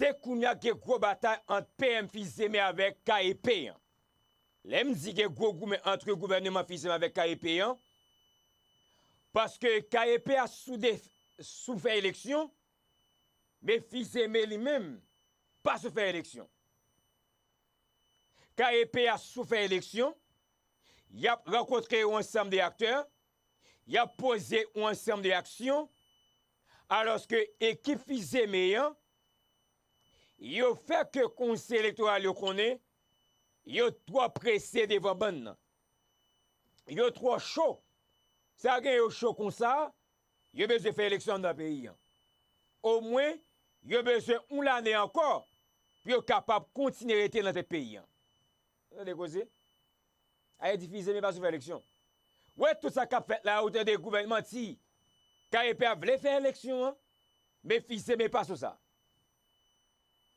Te kounya k gen gwo batay ant PM Fils-Aimé avèk KEP an. Lè m di gen gwo goumen antre gouvèneman Fils-Aimé avèk KEP an, paske KEP a sou de sou fè eleksyon, men Fils-Aimé li menm pa sou fè eleksyon. KEP a sou fè eleksyon, y ap rankontre yon ansanm de aktè, y ap poze yon ansanm de aksyon, alòske ekip Fils-Aimé an, yo fè ke Konsèy Elektoral yo konnen, yo twò prese devan bann nan. Yo twò cho. Sa gen yo cho konsa, yo bezwen fè eleksyon anndan peyi an. Omwen, yo bezwen yon lane ankò pou yo kapab kontinye rete nan tèt peyi an. Tande koze! Aye difize men pa sou fè eleksyon. Wè tout sa kap fèt la ou tande gouvènn manti. Kayepè a vle fè eleksyon an men fize men pa sou sa.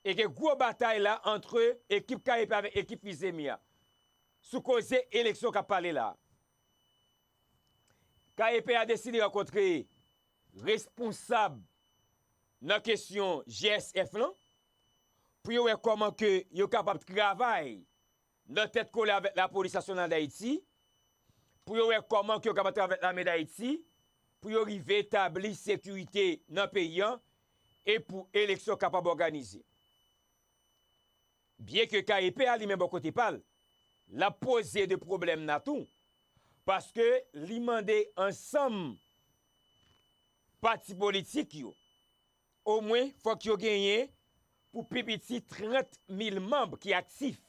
E gen gwo batay la antre ekip kayepè avèk ekip fize men a. Sou koze eleksyon kap pale la. Kayepè a deside rankontre responsab nan kesyon GSF lan pou yo wè kòman ke yo kapab travay. nan tèt kole avèk Lapolis Nasyonal Dayiti, pou yo wè kòman ke yo kapab travay avèk Lame Dayiti, pou yo rive tabli sekirite nan peyi an, e pou eleksyon kapab òganize. Byen ke KEP a li menm bò kote pa l, l ap poze de pwoblèm la tou, paske li mande ansanm pati politik yo, Omwen fòk yo genyen pou pi piti 30 mil manb ki aktif.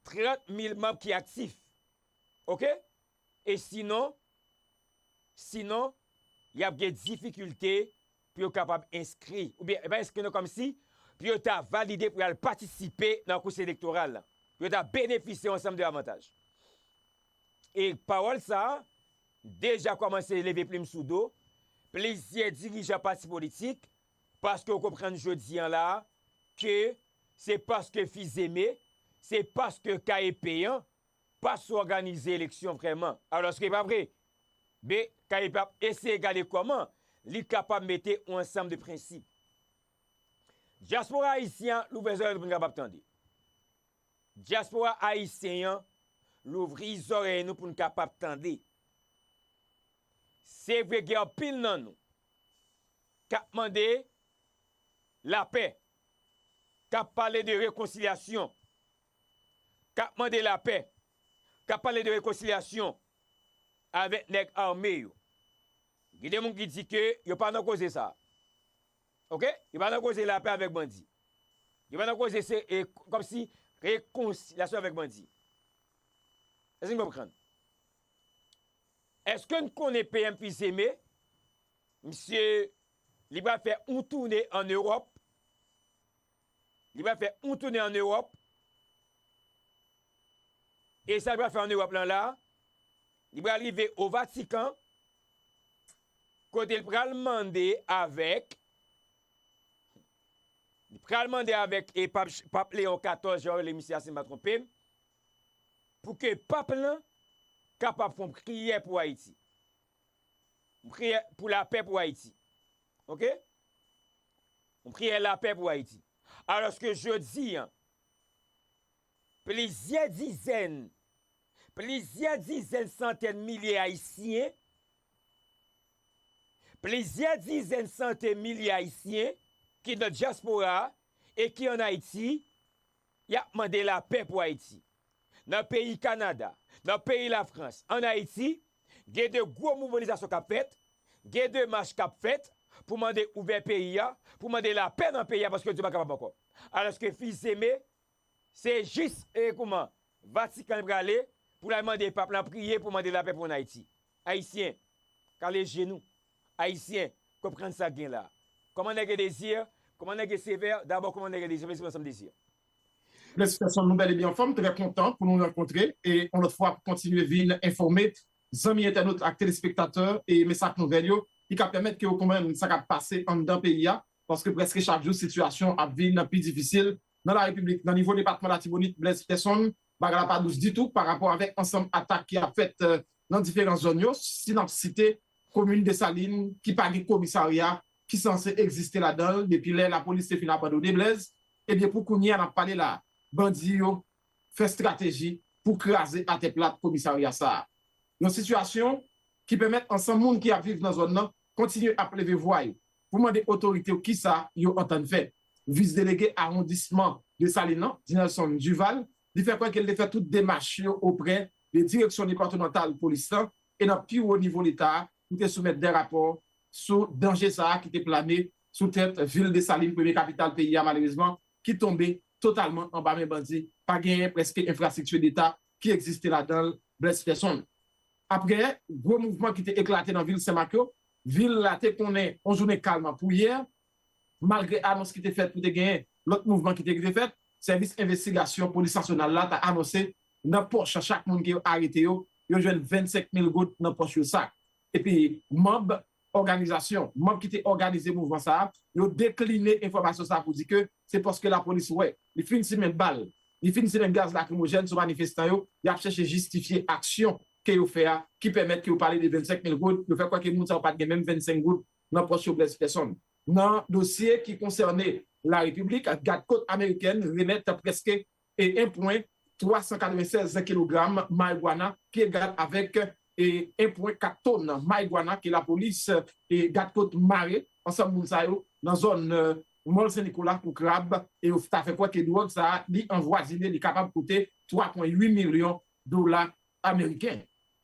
30 mil manb ki aktif. Ok? E sinon, sinon, y ap gen difikilte pou yo kapab enskri, oubyen, pa enskri non, kòmsi, pou yo ta valide pou y al patisipe nan kous elektoral la. Pou yo ta benefisye yon ansanm de avantaj. E pawòl sa a. deja kòmanse leve plim sou do plizyè dirijan pati politik paske yo konprann jodi an la ke se paske fizeme, se paske kaye peyan pa sou òganize eleksyon vrèman. Alòske pa vre. Men, kaye peyan ap eseye gade kòman li kapab mete yon ansanm de prensip. Dyaspora ayisyen an louvè zòrèy nou pou n kapab tande. Dyaspora ayisyen an louvri zòrèy nou pou n kapab tande. Se vre gen anpil nan nou k ap mande lapè, k ap pale de rekonsilyasyon, k ap mande lapè, k ap pale de rekonsilyasyon avèk nèg ame yo. Gen de moun ki di ke yo pa nan koze sa a. ok yo pa nan koze lapè avèk bandi yo pa nan koze se e kòmsi rekonsilyasyon avèk bandi èske nou konprann èske nou konnen PM fils aimé misye li pral fè yon toune an Europe. Li pral fè yon toune an Ewòp, e sa li pral fè an Ewòp lan la, li pral rive o Vatikan, kote li pral mande avèk, li pral mande avèk e pap, pap Leon 14 yo rele misye a si m pa twonpe m, pou ke pap lan kapab fon priyè pou Ayiti. Priyè pou lapè pou Ayiti. ok yon priyè lapè pou Ayiti alòske jodi an plizyè dizèn plizyè dizèn santèn milye ayisyen plizyè dizèn santè milye ayisyen ki nan dyaspora e ki an Ayiti Y ap mande lapè pou Ayiti. Nan peyi Kanada, nan peyi Lafrans, ann Ayiti, gen de gwo mouvanizasyon k ap fèt, gen de mach k ap fèt pou mande ouvè peyi a, pou mande lapè nan peyi a paske yo di yo pa kapab ankò. Alòske Fils-Aimé se jis e kouman Vatikan li prale pou l al mande pap lan priye pou mande lapè pou ann Ayiti. Ayisyen, kale je nou. Ayisyen, konprann sa k gen la. Kòman nèg e Désir, kòman nèg e Sévère, dabò kòman nèg e Désir, mesi pou ansanm Désir. Felisitasyon nou bel e byen anfom trè kontan pou nou rankontre e yon lot fwa pou kontinye vin enfome zanmi entènot ak telespektatè e mes ak nouvel yo ki ka pèmèt ke yo konprann sa kap pase anndan peyi a paske preske chak jou sitiyasyon ap vin pi difisil nan la repiblik nan nivo depatman latibonit Blaise Peterson Bagay la pa dous ditou pa rapò avèk ansanm atak ki ap fèt nan diferan zòn yo, si n ap site komin Desalin ki pa gen komisarya ki sanse egziste ladan l depi lè lapolis te fin abandone Blèz, ebyen pou kounye a n ap pale la a, bandi yo fè estrateji pou kraze atè plat komisarya sa a. Yon sitiyasyon ki pèmèt ansanm moun ki ap viv nan zòn nan kontinye ap leve vwa yo. pou mande otorite yo kisa yo antann fè. Vis delege awondisman Desalin lan, Dinelson Duval, li fè kwè ke li te fè tout demach yo oprè de direksyon depatmantal polis lan e nan pi wo nivo leta a pou te soumèt de rapò sou danje sa a ki te plane sou tèt vil Desalin, premye kapital peyi a malerezman ki tonbe totalman anba men bandi, pa genyen prèske enfrastrikti deta ki egziste ladan l. Blaise Peson. Aprè gwo mouvman ki te eklate nan vil Senmak yo, Vil la te konnen yon jounen kalm ap pou yè, malgre anons ki te fèt pou te genyen lòt mouvman ki te rive fèt. Sèvis envestigasyon polis nasyonal la ta anonse nan pòch chak moun ke yo arete yo, yo jwenn 25 mil goud nan pòch yo sak. Epi manb òganizasyon, manb ki te òganize mouvman sa a, yo dekline enfòmasyon sa a pou di ke se paske lapolis wè li fin simen bal, li fin simen gaz lakrimojèn sou manifestan yo, y ap chèche jistifye aksyon ke yo fè a ki pèmèt ke yo pale de 25 mil goud, yo fè kwè ke moun sa yo pat gen menm 25 goud nan pòch yo blèz pèsonn. Nan dosye ki konsène la repiblik, gad kot amerikèn remèt prèske 1 pwen 396 kilogram marijuana ki egal avèk 1 pwen 4 ton marijuana ke lapolis gad kot mare ansanm moun sa yo nan zòn mòl sen nikola kou krab e yo ta fè kwè ke dwòg sa a li anvwazine li kapab koute 3 pwen 8 milyon dola ameriken.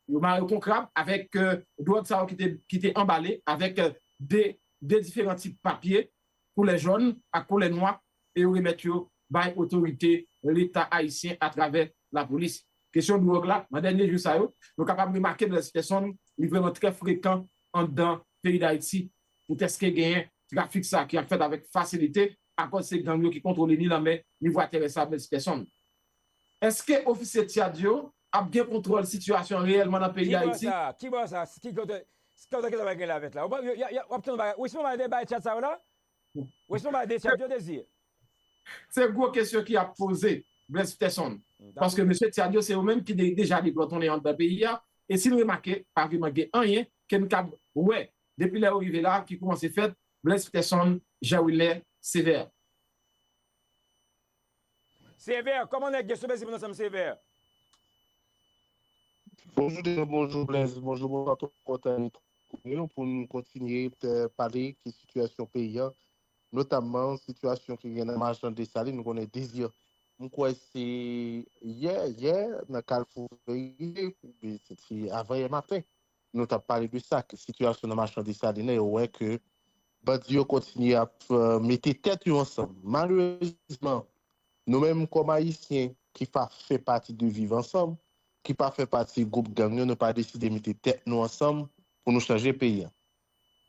Yo mare yo kon krab avèk dwòg sa yo ki te anbale avèk de diferan tip papye koulè jòn ak koulè nwa e yo remèt yo bay otorite leta ayisyen atravè lapolis. Kesyon dwòg la, nan dènye jou sa yo, nou kapab remake Blaise Persson, li vrèman trè frekan anndan peyi Dayiti poutèske genyen trafik sa ki ap fèt avèk fasilite akòz se gang yo ki kontwole ni lanmè ni vwa terès la Blaise Persson. Eske ofisye Tchad yo ap gen kontwòl sitiyasyon an reyèlman nan peyi Dayiti? Ki bò sa? Ki bò sa? Ki kote ki sa pral gen lavet la? Ou ap tande bagay. Ou esplike bagay de bay Tchad sa yo la? Ou esplike bagay de Tchad yo, Désir? Se gwo kesyon ki ap poze, Blaise Pterson. Paske mesye Tchad yo se yo menm ki deja deplòtonnen anndan peyi a. E si n remake, pa vreman gen anyen ke n kab wè depi lè yo rive la ki koumanse fèt, Blaise Pterson, Jean Wilner Sévère. Sévère kòman nèg yo sou Blaise moun ansanm Sévère. Bonjou Deno bonjou Blaise bonjou bonswa tout moun kontan ret kole nou pou nou kontinye pale ki sitiyasyon peyi an notamman sitiyasyon ki gen nan machan Desalin nou konnen Désir m kwè se yè yè nan kalfou Vérité oubyen se te avan yè maten. nou tap pale de sa ke sitiyasyon nan machan Desalin lan yo wè ke bandi yo kontinye ap mete tèt yo ansanm malerezman nou menm kòm ayisyen ki pa fè pati de viv ansanm ki pa fè pati gwoup gang yo nou pa deside mete tèt nou ansanm pou nou chanje peyi an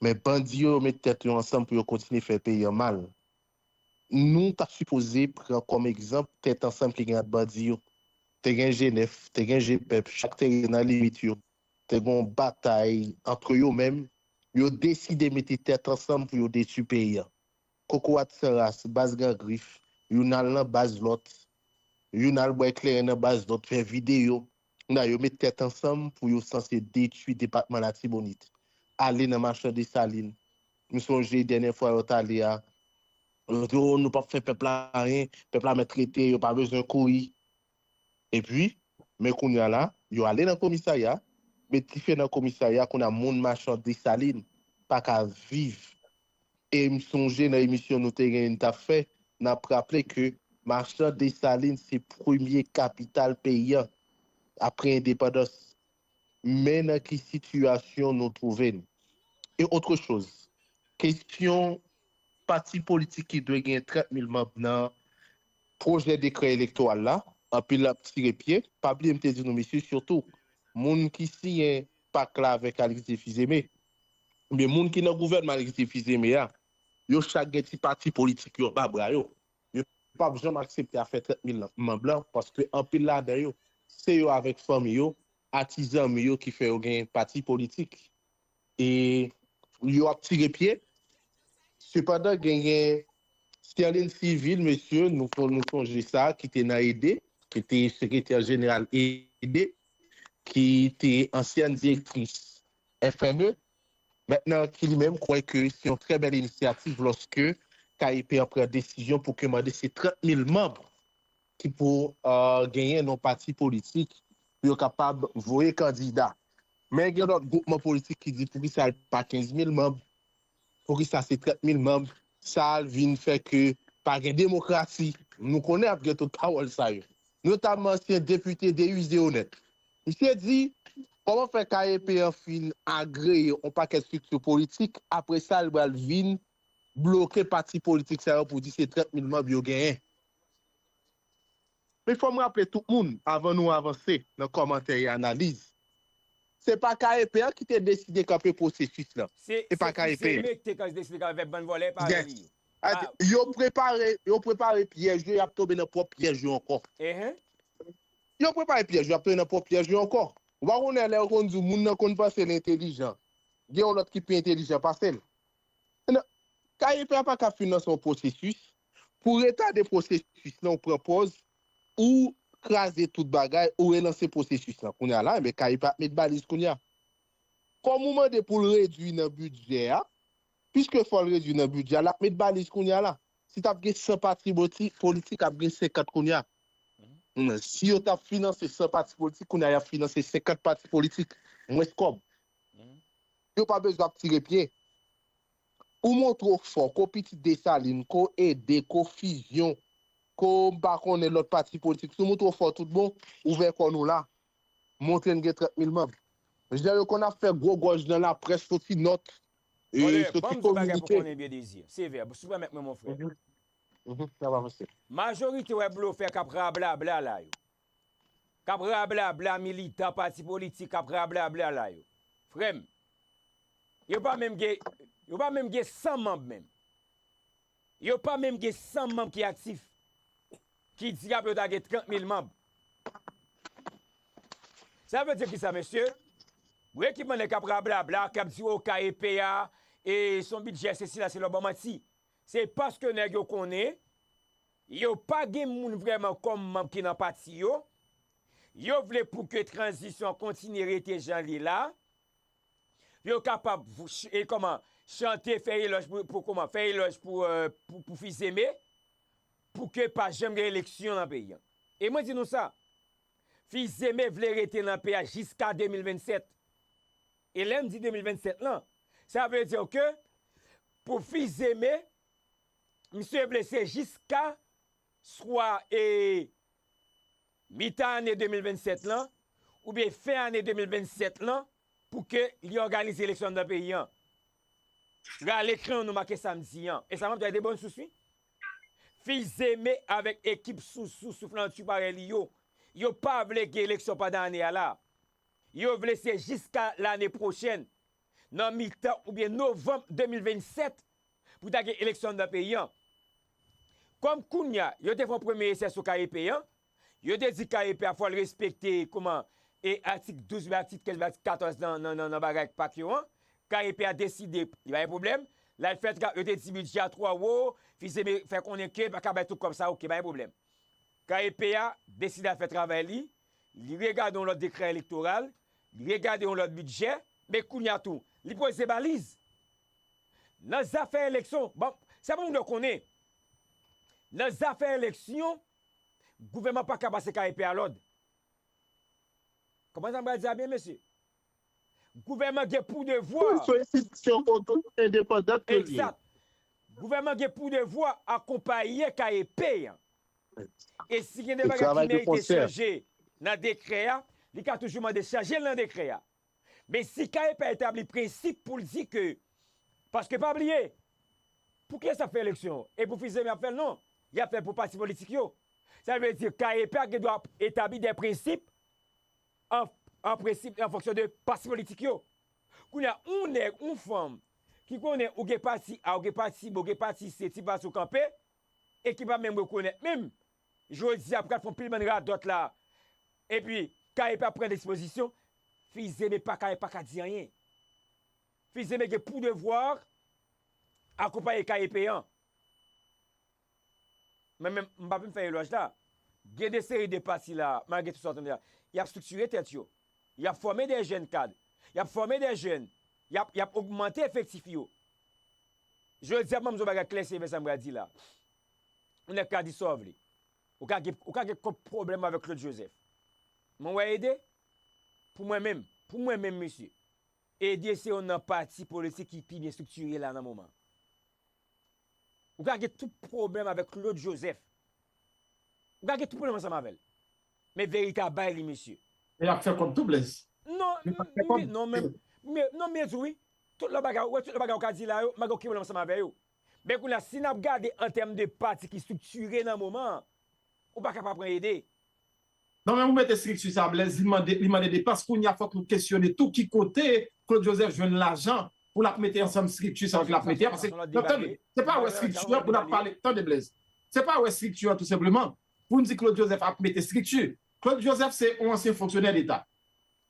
men bandi yo yo met tèt yo ansanm pou yo kontinye fè peyi an mal nou ta sipoze pran kòm egzanp tèt ansanm ki gen ant bandi yo te gen jenèf te gen jepèp chak te rete nan limit yo te gen yon batay antre yo menm, yo deside mete tèt ansanm pou yo detui peyi an. Kokorat san ras, baz gran grif, youn al nan baz lòt, youn al bwè kleren nan baz lòt, fè videyo, kounye a yo met tèt ansanm pou yo sanse detui depatman Latibonit, ale nan machan Desalin, m sonje dènyè fwa yo t ale a, yo di o nou p ap fè pèp la anyen, pèp la mèt rete, yo pa bezwen kouri. Epi, men kounya la, yo ale nan komisarya, met dife nan komisarya, kounya moun machan Desalin pa ka viv. E m sonje nan emisyon nou te genyen n t ap fè, n ap raple ke machan Desalin se premye kapital peyi an, apre endepandans. men nan ki sitiyasyon nou twouve n. E otre choz, kesyon pati politik ki dwe gen 30 mil manb nan pwojè dekrè elektoral la, anpil ap tire pye, pa bliye m te di nou mesye sitou moun ki siyen pak la avèk Alix de Fils-Aimé, ebyen moun ki nan gouvènman Alix de Fils-Aimé a, yo chak gen ti pati politik yo anba bra yo. yo pap janm aksepte afè 30 mil man blan paske anpil ladan yo se yo avèk fanmi yo a ti zanmi yo ki fè yo gen pati politik e yo ap tire pye sepandan genyen Sterlin Civil mesye nou kon nou sonje sa ki te nan ede ki te sekretè jeneral ede ki te ansyèn direktris FME, Mèt nan ki li menm kwè ke se yon trè bèl inisyativ lòske KEP an pran desizyon pou ke mande se 30 mil manb ki pou genyen nan yon pati politik pou yo kapab voye kandida. Men gen lòt gwoupman politik ki di poukisa l pa 15 mil manb. Poukisa se 30 mil manb sa vin fè ke pa gen demokrasi? Nou konnen ap gen tout pawòl sa yo. Notamman ansyen depite Deusé Onèt. Misye di, kòman fè KEP an fin agreye yon pakèt strikti politik, apre sa li pral vin bloke pati politik sa yo pou di se 30 mil manb yo genyen? Men fò m raple tout moun avan nou avanse nan kòmantè e analiz, se pa KEP an ki te deside kanpe pwosesis lan. Se pa KEP an. Yes. Yo prepare, yo prepare pyèj yo, y ap tonbe nan pwòp pyèj yo ankò. Yo prepare pyèj yo, y ap tonbe nan pwòp pyèj yo ankò. Ou pa konnen lè yo konn di w moun nan konn panse l entelijan, gen yon lòt ki pi entelijan pase l. Nan, KEP a pa ka finanse yon pwosesis, pou w retade pwosesis lan ou pran pòz ou kraze tout bagay ou relanse pwosesis lan kounye a la enben KEP a ap met baliz kounye a. Kòm ou mande pou l redui nan bidjè a, piske fò l redui nan bidjè a l ap met baliz kounye a la. Si t ap gen 100 pati politik ap gen 50 kounye a. Si yo t ap finanse 100 pati politik kounye a y ap finanse 50 pati politik, mwens kòb. yo pa bezwen ap tire pye. Ou montre w fò ko pitit Desalin, ko ede, ko fizyon, ko m pa konnen lòt pati politik. Si w montre w fò tout bon, ouvè kò nou la. Montre n gen 30 mil manb. Jan yo konn ap fè gwo gòj nan laprès soti nòt, soti kominike. Sevè, si w pèmèt mwen mon frè. Majorite wè blofè k ap rablabla la yo. kap rablabla militan pati politik kap rablabla la yo frèm yo pa menm gen yo pa menm gen 100 manb menm yo pa menm gen 100 manb ki aktif ki dyab yo ta gen 30 mil manb sa vle di kisa mesye bon ekipman nèg kap rablabla kap di okay epe a e son bidjè se sila se lò banmanti se paske nèg yo konnen. Yo pa gen moun vrèman kòm manb ki nan pati yo. Yo vle pou ke tranzisyon an kontinye rete jan l ye la. Yo kapab chante, fè elòj pou Fils Aimé, pou ke pa janm gen eleksyon nan peyi an. E mwen di nou sa, Fils Aimé vle rete nan peyi a jiska 2027. E lè m di 2027 lan, sa vle di ke pou Fils Aimé, misye blese jiska swa e mitan ane 2027 lan oubyen fen ane 2027 lan pou ke li òganize eleksyon anndan peyi an. Rale krayon nou make sa m di an. E sa map di a de bòn sous wi. Fils-Aimé avèk ekip sousou souflantyou parèy li yo, yo pa vle gen eleksyon pandan ane a la. Yo vle se jiska lane pwochèn nan mitan oubyen novanm 2027 pou ta gen eleksyon anndan peyi an. Kòm kounya yo te fè yon premye esè sou KEP an, yo te di KEP a fò l respekte kouman e atik 12 oubyen atik 13 oubyen atik 14 nan bagay pak yo an, KEP a deside li pa gen pwoblèm, l al fè tra, yo te di bidjè a twò wo, Fils-Aimé fè konnen ke li pa ka bay tout kòb sa, ok pa gen pwoblèm. KEP a deside al fè travay li, li regade yon lòt dekrè elektoral, li regade yon lòt bidjè, men kounye a tou, li poze baliz. Nan zafè eleksyon, bon, sa pou moun yo konnen, nan zafè eleksyon, gouvènman pa ka pase ka epe a lòd. Konprann sa m pral di a byen, mesye? Gouvènman gen pou devwa. Sou enstitisyon oto endepandant ke l ye. Egzat. Gouvènman gen pou devwa akonpaye ka epe an. E si gen de bagay ki merite chanje nan dekrè a, li ka toujou mande chanje l nan dekrè a. Men si kaye pa etabli prensip pou l di ke, paske pa bliye, pou kiyès y ap fè eleksyon? E pou Fils Aimé y ap fè l? Non, y ap fè l pou pati politik yo. Sa vle di kaye pa gen dwa etabli de prensip an prensip e an fonksyon de pati politik yo. Kounye a, yon nèg, yon fanm ki konnen ou gen pati A, ou gen pati B, ou gen pati C, ti pati ou kanpe, e ki pa menm rekonèt menm, jodi a pral fon pil bann radòt la, epi Kaye pa pran dispozisyon, Fils-Aimé pa Kaye pa ka di anyen. Fils-Aimé gen pou devwa akonpaye Kaye Peyan. Mwen menm, m pa vin fè elòj la. Gen de seri de pati la, malgre tout sa w tande la, y ap striktire tèt yo. Y ap fòme de jèn kad. Y ap fòme de jèn. Y ap ogmante efektif yo. Jodi a, m ap di yon bagay klè sevè sa m pral di la. Yon nèg ka di sa w vle. Ou ka gen, ou ka gen kont pwoblèm avèk Claude Joseph. Men w wè Ede? Pou mwen menm, pou mwen menm mesye, Ede se youn nan pati politik ki pi byen striktire la nan moman an. Ou ka gen tout pwoblèm avèk Claude Joseph, Ou ka gen tout pwoblèm ansanm avèl. Men verite a bay li mesye. Men yap fè kòb tou Blaze. Non Yo pap fè kòb. non men non byen di wi. Tout lòt bagay ou wè tout lòt bagay ou ka di la yo m pa gen okenn pwoblèm ansanm avè yo. Men kounye a si nap gade an tèm de pati ki striktire nan moman an ou paka pa pran Ede. Nan moman pou mete estrikti sa Blaise li mande li mande depans kounya fòk nou kesyone tou ki kote Claude Joseph jwenn lajan pou lap mete ansanm estrikti sa yo ke lap mete a pase nan tande se pa wè estrikti an pou nap pale tande Blaise se pa wè estrikti an tou senpleman poun di Claude Joseph ap mete estrikti Claude Joseph se yon ansyen fonksyonè leta.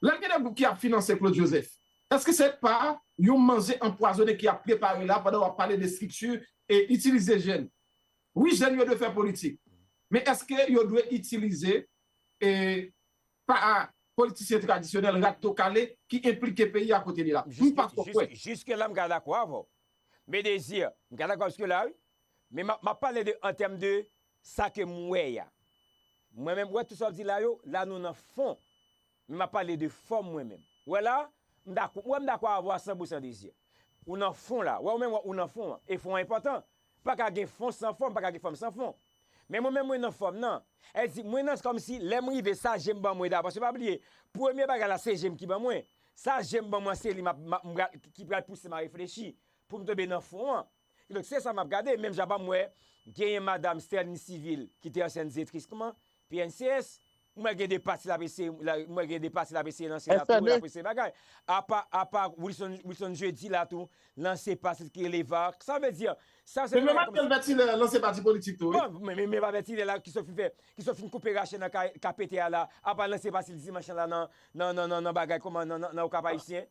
Lè gen de gwoup ki ap finanse Claude Joseph, eske se pa yon manje anpwazone ki ap prepare la pandan wap pale de strikti e itilize jèn? Wi jèn yo dwe fè politik, men eske yo dwe itilize e pa politisyen tradisyonèl rat do kale ki enplike peyi a kote li la? M pa twò kwè. Jiske la m ka dakò avè w. Medezir, m ka dakò jiske la wi. Men m ap pale de an tèm de sa ke m wè a. Mwen menm, wè tout sa w di la yo, la nou nan fon. Men m ap pale de fòm mwen menm. Ou wè la, m dakò, ou wè m dakò avè w a san bri san dezi. Ou nan fon la. Wè ou menm wè ou nan fon an. E fon an enpòtan. Pa ka gen fon san fòm, pa ka gen fòm san fon. Men mwen menm mwen nan fòm nan. Èl di, mwen nan, se kòm si lè m rive sa je m ban mwen dabò. Se pa bliye, premye bagay la se je m ki ban mwen. Sa je m ban mwen an se li m ap, m ap, m pral, ki pral pouse m a reflechi pou m tonbe nan fon an. Kidonk se sa map gade menm jan pa m wè genyen madam Sterline Civil ki te ansyen dzetris kman, pncs, m wè gen de pati lap eseye, m wè gen de pati lap eseye lanse la tou, lap eseye bagay. Apa, apa Wilson, Wilson Jeudi la tou lanse pati l ki rele Vark. Sa vle di, sa se de bagay kòm si. Menm Manuel Berthilaire lanse pati politik tou wi. Bon, men men pa Berthilaire la ki sot fin fè, ki sot fin koupe rache nan kay KPT a la, apa lanse pati l dimanch lan la nan, nan, nan, nan bagay kòman, nan, nan, nan Okap Ayisyen.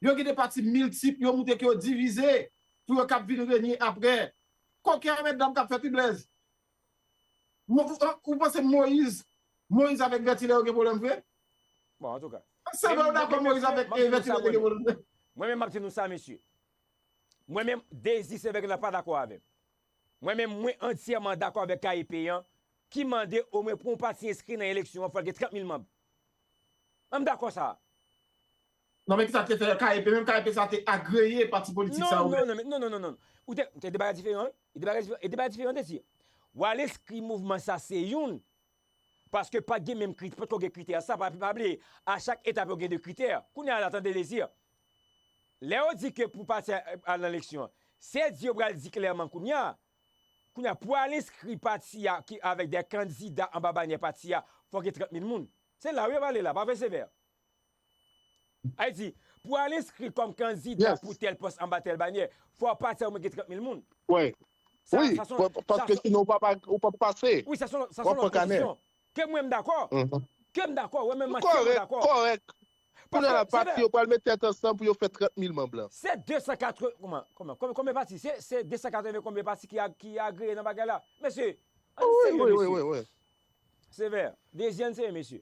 Yo gen de pati miltip yo moute ke yo divize pou yo kab vin renye apre. Koken a mètdam kap fèt wi Blèz. Ou panse Moyiz Moyiz avèk Vètilè yo gen pwoblèm vre? Bon antouka. Se vre ou dakò Moyiz avèk Vètilè te gen pwoblèm vre? Mwen menm map di nou sa mesye. Mwen menm Dezi Sevèk la pa dakò avèm. Mwen menm mwen antyèman dakò avèk kaye peyan ki mande omwen pou yon pati enskri nan eleksyon an fòl gen 30 mil manb. An m dakò sa a. Non men kisa te fè KEP menm KEP sa te agreye pati politik sa yo menm. Non non non ou te e 2 bagay diferan wi e 2 bagay diferan e 2 bagay diferan te di wa lespri mouvman sa se youn paske pat gen menm kri potko gen kritè sa pa bliye a chak etap yo gen 2 kritè kounye a la tande dezi lè yo di ke pou pati a al nan leksyon se di yo pral di klèman kounye a kounye a pou al enskri pati a ki avèk de kandida anba banyè pati a fòk gen 30 mil moun se la wi yap ale la pa fè sevè Al di, pou al enskri kòm kandida pou tèl pòs anba tèl banyè, fò w pase omwen gen 30 mil moun. Wi, paske sinon ou pap pase. Wi, sa son lòt kondisyon. Ke mwen m dakò. Ke m dakò. Wè menm mwen ke m dakò. Kòrèk. Kounye a la, pati yo pral met tèt ansanm pou yo fè 30 mil manm la. Se 280, kouman, kouman, konbyen pati? Se 280 konbyen pati ki agreye nan bagay la? Mesye, an n serye mesye. Wi, wi, wi, wi. Sevè, dezyèn seye mesye.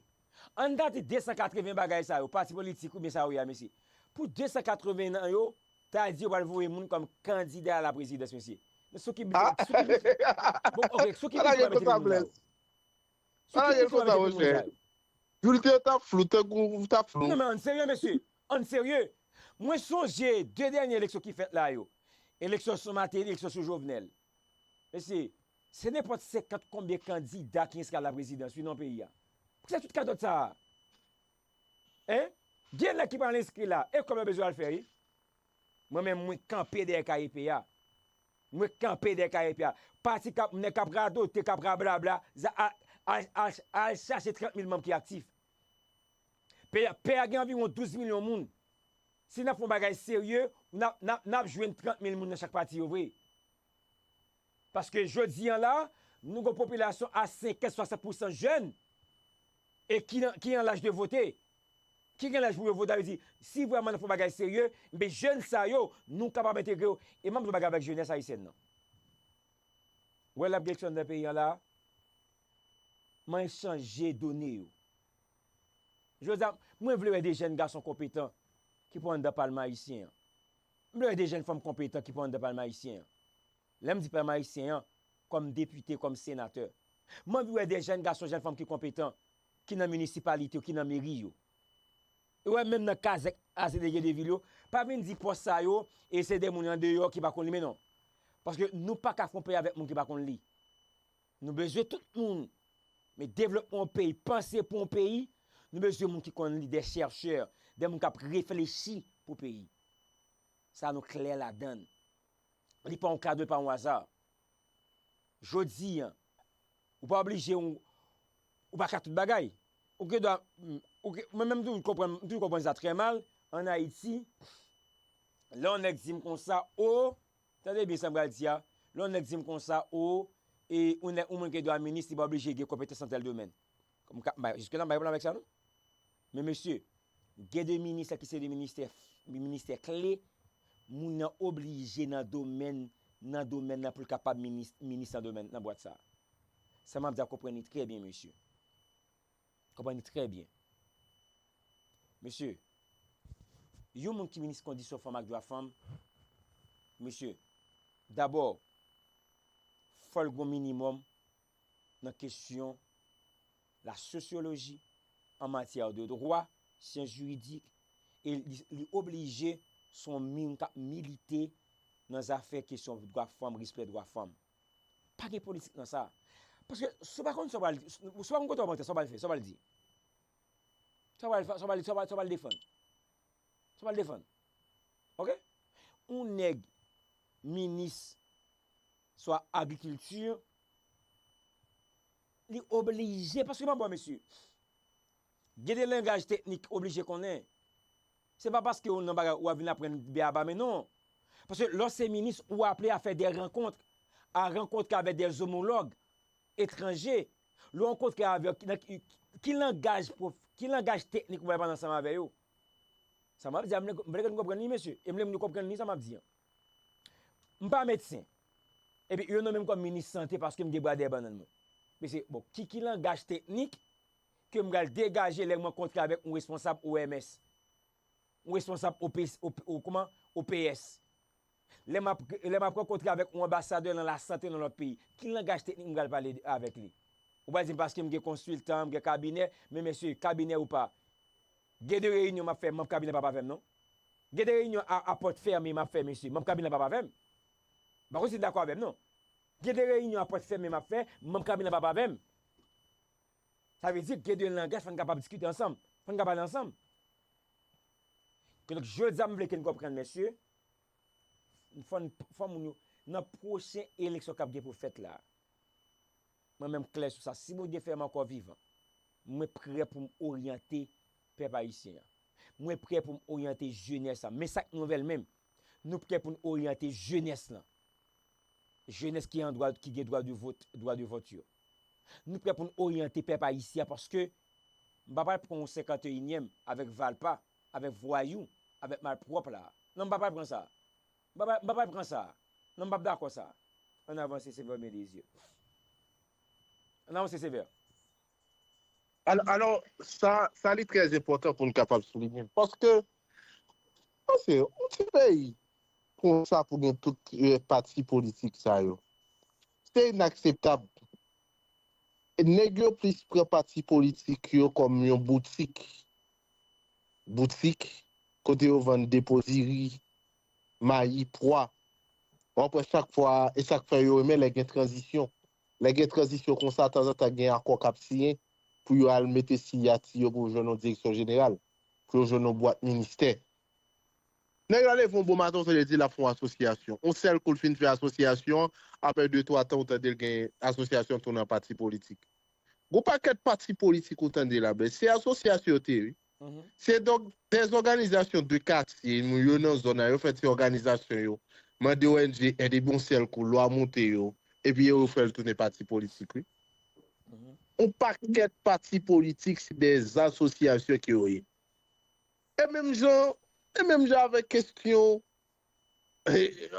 Ann gade 280 bagay sa yo, pati politik oubyen sa yo ye a mesye. Pou 280 nan yo, ta di yo pral voye moun kòm kandida a la prezidans mesye. Men sou ki bgy, sou ki bgy, bon ok, sou ki bgy yo pral mete vin moun sa yo? Sou ki bgy yo pral mete vin moun sa yo? Bulter tap flou tankou ou tap flou. Non men ann serye mesye, ann serye. Mwen sonje 2 dènye eleksyon ki fèt la yo. Eleksyon sou Martelly, eleksyon sou Jovenel. Mesye, se nenpòt 50 konbyen kandida ki enskri a la prezidans wi nan peyi a. Pou ki sa tout katòt sa a? Hein? Gen nèg ki pral enskri la, e kòb yo bezwen al fè wi. Mwen menm mwen kanpe dèyè KEP a. Mwen kanpe dèyè KEP a. Pati k ap, nèg k ap radote, k ap rablabla, al chache 30 mil manm ki aktif. Pè a gen anviwon 12 milyon moun. Si n ap fè yon bagay serye, n ap jwenn 30 mil moun nan chak pati yo vre. Paske jodi an la, nou gen yon popilasyon a 50, 60 pousan jèn e ki an laj de vote. Ki gen laj pou yo vote, sa vle di, si vrèman n ap fè yon bagay serye, enben jèn sa yo, nou kapab entegre yo. E m ap di yon bagay avèk jenès ayisyèn nan. Ou wè l ap gen eleksyon anndan peyi an la a? Manyen chanje done yo. Jodi a, mwen vle wè de jèn gason konpetan ki pou anndan palman ayisyen an. M vle wè de jèn fanm konpetan ki pou anndan palman ayisyen an. Lè m di palman ayisyen an, kòm depite, kòm senatè. M anvi wè de jèn gason, jèn fanm ki konpetan ki nan minisipalite yo, ki nan meri yo. E wè menm nan kazèk a Zeleje de vil yo, pa vin di pòs sa yo e se de moun andeyò ki pa konn li men non. Paske nou pa ka konpe avèk moun ki pa konn li. Nou bezwen tout moun men devlopman yon peyi panse pou yon peyi nou bezwen moun ki konn li dè chèrchè dè moun kap reflechi pou peyi sa nou klè ladann li pa yon kado li pa yon aza jodi an ou pa oblije yon ou pa ka tout bagay ou gen dwa ou gen mwen menm toujou konprann m toujou konprann sa trè mal an ayiti lè yon nèg di m konsa o. Tande byen sa m pral di a, lè yon nèg di m konsa, o, e, yon nèg, yon moun ki gen dwa minis, li pa oblije gen konpetans nan tèl domèn. M ka, m pa, jiske la m pa gen pwoblèm avèk sa non. Men mesye, gen de minis ki se de ministè, ministè kle, moun nan oblije nan domèn, nan domèn nan pou l kapab minis, minis nan domèn, nan bwat sa a. Sa m ap di a konprann li trè byen mesye. Konprann trè byen. Mesye, yon moun ki minis kondisyon fanm ak dwa fanm, mesye, dabò, fò l gon minimòm nan kesyon la sosyoloji, an matyè de dwa, syans jiridik, e li oblije son moun k ap milite nan zafè kesyon dwa fanm, respè dwa fanm. Pa gen politik nan sa. Paske si w pa konn sa w pral di, si w pa konn kote w ap antre, sa w pral fè, sa w pral di? Sa w pral defann? Sa w pral defann? Ok? Yon nèg minis swa agrikilti, li oblije, paske pa bò mesye, gen de langaj teknik ki oblije konnen. Se pa paske ou nan bagay ou ap vin aprann beaba men non. Paske lè w se minis ou aple a fè dè rankontr, a rankontre avè dè zomològ etranje. Lè w rankontre avè yo nan ki langaj pwof, ki langaj teknik ou bay pale ansanm avè yo. Sa m ap di a m vle, m vle ke nou konprann li mesye e m vle moun yo konprann li sa m ap di an. M pa medsen epi yo nonmen m kòm minis sante paske m gen bradè bannann mwen. Mesye bon ki ki langaj teknik. ke m pral degaje lè m rankontre avèk yon responsab OMS, yon responsab OPS, lè m ap rankontre avèk yon anbasadè nan lasante nan lòt peyi, ki langaj teknik m pral pale avèk li? Ou pral di m paske m gen konsiltan, m gen kabinè, men mesye, kabinè ou pa, gen de reyinyon m ap fè manb kabinè pa pa avè m non. Gen de reyinyon a pòt fèmen m ap fè mesye, manb kabinè pa pa avè m. M pa konn si n dakò avè m non. Gen de reyinyon a pòt fèmen m ap fè, manb kabinè pa pa avè m. Sa vle di gen de langaj fò n kapab diskite ansanm, fò n ka pale ansanm. Kidonk jodi a m vle ke n konprann mesye, fò n, fò moun yo, nan pwochen eleksyon k ap gen pou fèt la, mwen menm klè sou sa, si Bondye fè m ankò vivan, mwen prè pou m oryante pèp ayisyen an. Mwen prè pou m oryante jenès la. Men sa k nouvèl menm, nou prè pou n oryante jenès lan. jenès ki an dwa, ki gen dwa de vot, dwa de vòt yo. Nou prè pou n oryante pèp ayisyen an paske m pa pral pran yon senkanteyinyèm avèk valpa, avèk vwayou, avèk malpwòp la a. Non m pa pral pran sa a. M pa, m pa pral pran sa a. Non m p ap dakò sa a. Ann avanse Sevè Bendezye. Ann avanse Sevè. Alò, sa, sa li trè enpòtan pou n kapab soulinye l, paske, paske yon ti peyi konsa pou gen tout pati politik sa yo, se inakseptab. Nèg yo plis pran pati politik yo kòm yon boutik, boutik kote yo vann depo diri, mayi, pwa. W'ap wè chak fwa, e sa k fè yo renmen lè gen tranzisyon. Lè gen tranzisyon konsa, tanzantan gen akò k ap siyen pou yo al mete siyati yo pou yo jwenn yon direksyon jeneral, pou yo jwenn yon bwat ministè. Nèg la leve yon bon maten ou tande l di l ap fè yon asosyasyon. Yon sèl kou l fin fè asosyasyon an, aprè de twa tan ou tande l gen asosyasyon an tounen an pati politik. Gon pakèt pati politik ou tande la men se asosyasyon yo te ye wi. Se des organisations de katye moun yo nan zòn nan yo fè ti òganizasyon yo mande ong èd epi yon sèl kou lwa moute yo epi yo yo fè l tounen pati politik wi. Yon pakèt pati politik se dè asosyasyon ke yo ye. E menm jan e menm jan avèk kestyon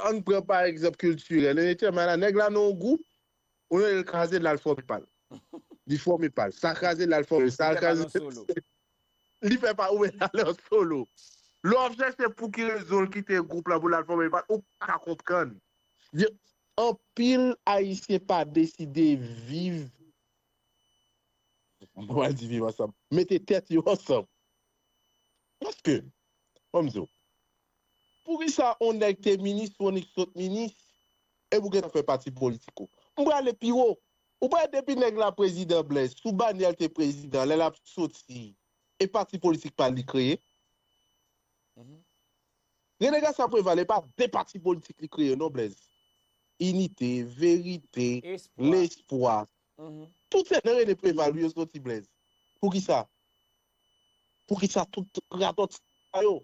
ann pran pa egzanp kiltirèl en etèl men ala nèg la nan yon gwoup Ou lè l kraze l al fòme pa l. Li fòme pa l. Sa kraze l al fòme. Sa l kraze l. Li fè pa l. Ou wè l al an solo. Lè w ap chèche pou ki rezon l kite gwoup la pou l al fòme pa l, ou pa ka konprann. Anpil Ayisyen pa deside viv, m pa di viv ansanm, mete tèt yo ansanm. Paske, an m di w, poukisa yon nèg te minis, Fonik sot minis, epi ou gentan fè pati politik ou. M prale pi wo. Ou pa wè depi nèg la prezidan Blaise sou banyè l te prezidan lè l ap soti e pati politik pa l li kreye? Rene Garcia Preval e pa de pati politik li kreye non Blaise. Inite, Verite, Lespwa. Tout se nan Rene Preval wi yo soti Blaise. Poukisa? Poukisa tout radòt sa yo?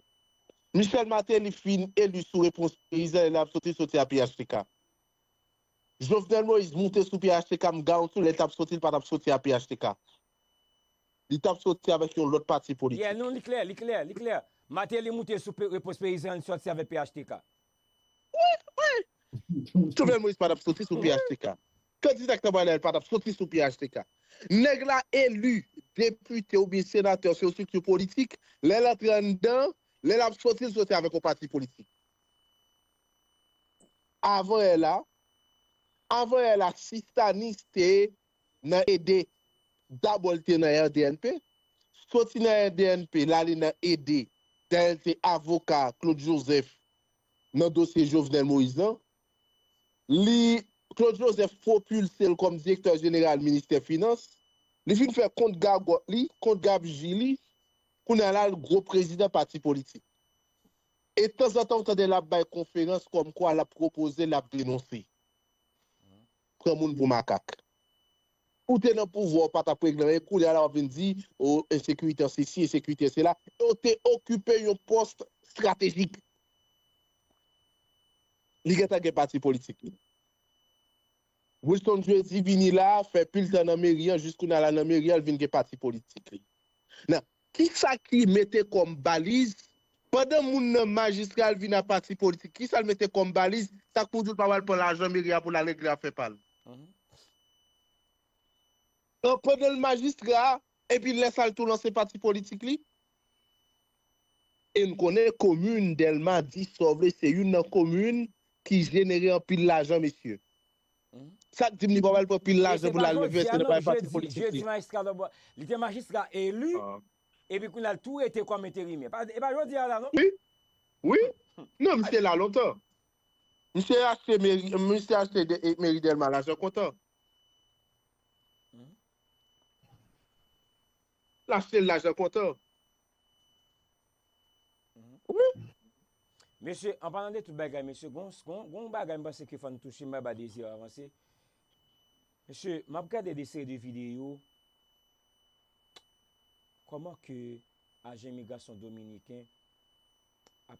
Michel Martelly fin eli sou repons peyizan e lap soti soti a phtk. Jovenel Moïse moute sou phtk m garanti w lè l tap soti l pa tap soti a phtk. Li tap soti avèk yon lòt pati politik. Yeah non li klè, li klè, li klè. Martelly moute sou repons peyizan e li soti avèk phtk. Jovenel Moïse pa t ap soti sou phtk. Kandida k t ap ale a pa t ap soti sou phtk. Nèg la eli depite oubyen senatè se yon estrikti politik, lè l antre anndan, lè l ap soti l soti avèk yon pati politik. Avan è la, avan è la si Stanis te nan ede dabò li te nan RDNP soti nan RDNP l ale nan ede dayè l te avoka Claude Joseph nan dosye Jovenel Moïse lan li Claude Joseph pwopilse l kòm direktè jeneral ministè finans li fin fè kont gagòt li kont gabji li kounye a la l gwo prezidan pati politik e tanzantan ou tande l ap bay konferans kòmkwa l ap pwopoze l ap denonse. pran moun pou makak. Ou te nan pouvwa ou pa tap regle anyen koulya la wap vin di oh ensekirite an sesi ensekirite an sela e ou te okipe yon post stratejik. Li gentan gen pati politik li. Wilson Jeudi vini la fè pil tan nan meri an jis kounye a la nan meri an li vin gen pati politik li. Nan Ki sa ki mete kòm baliz, pandan moun nan majistral vin a pati politik, ki sa l mete kòm baliz, sa k pou di l pa pral pran lajan meri a pou l al regle afè pa l? An pandan l majistra, epi lè sa l tou lanse pati politik li? E n konnen komin Dèlma, di sa w vle, se youn nan komin ki jenere anpil lajan mesye. Sak dim li pap al pran pil lajan poul al leve se nan bay pati politik li. Li te majistra elu epi kounya l tou rete kòm enterimè. E pa jodi a sa non. Wi non misye la lontan. Misye achte meri misye achte meri delma lajan kontan. L achte l lajan kontan. Wi. Mesye, an palan de tout bagay mesye, gon yon bagay m panse ke fò n touche, m bay ba Désir avanse. Mesye, m ap gade de seri de videyo, kòman ke ajan imigrasyon dominiken ap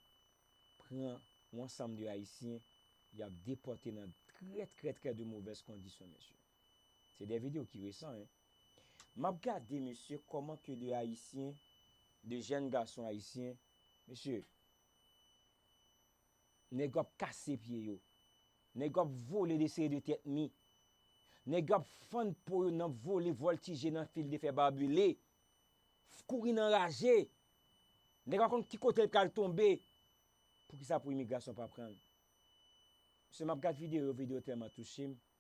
pran yon ansanm de ayisyen, y ap depòte nan trè trè trè de movèz kondisyon mesye. Se de video ki resan hein. Map gade mesye koman ke de ayisyen, de jèn gason ayisyen, mesye nèg yo ap kase pye yo, nèg yo ap vole de seri de tèt mi, nèg yo ap fann po yo nan vole voltije nan fil de fè barbele, f kouri nan raje, nèg pa konn ki kote l pral tonbe, poukisa pou imigrasyon pa pranl? Mesye map gad video yo, video yo telman touche m.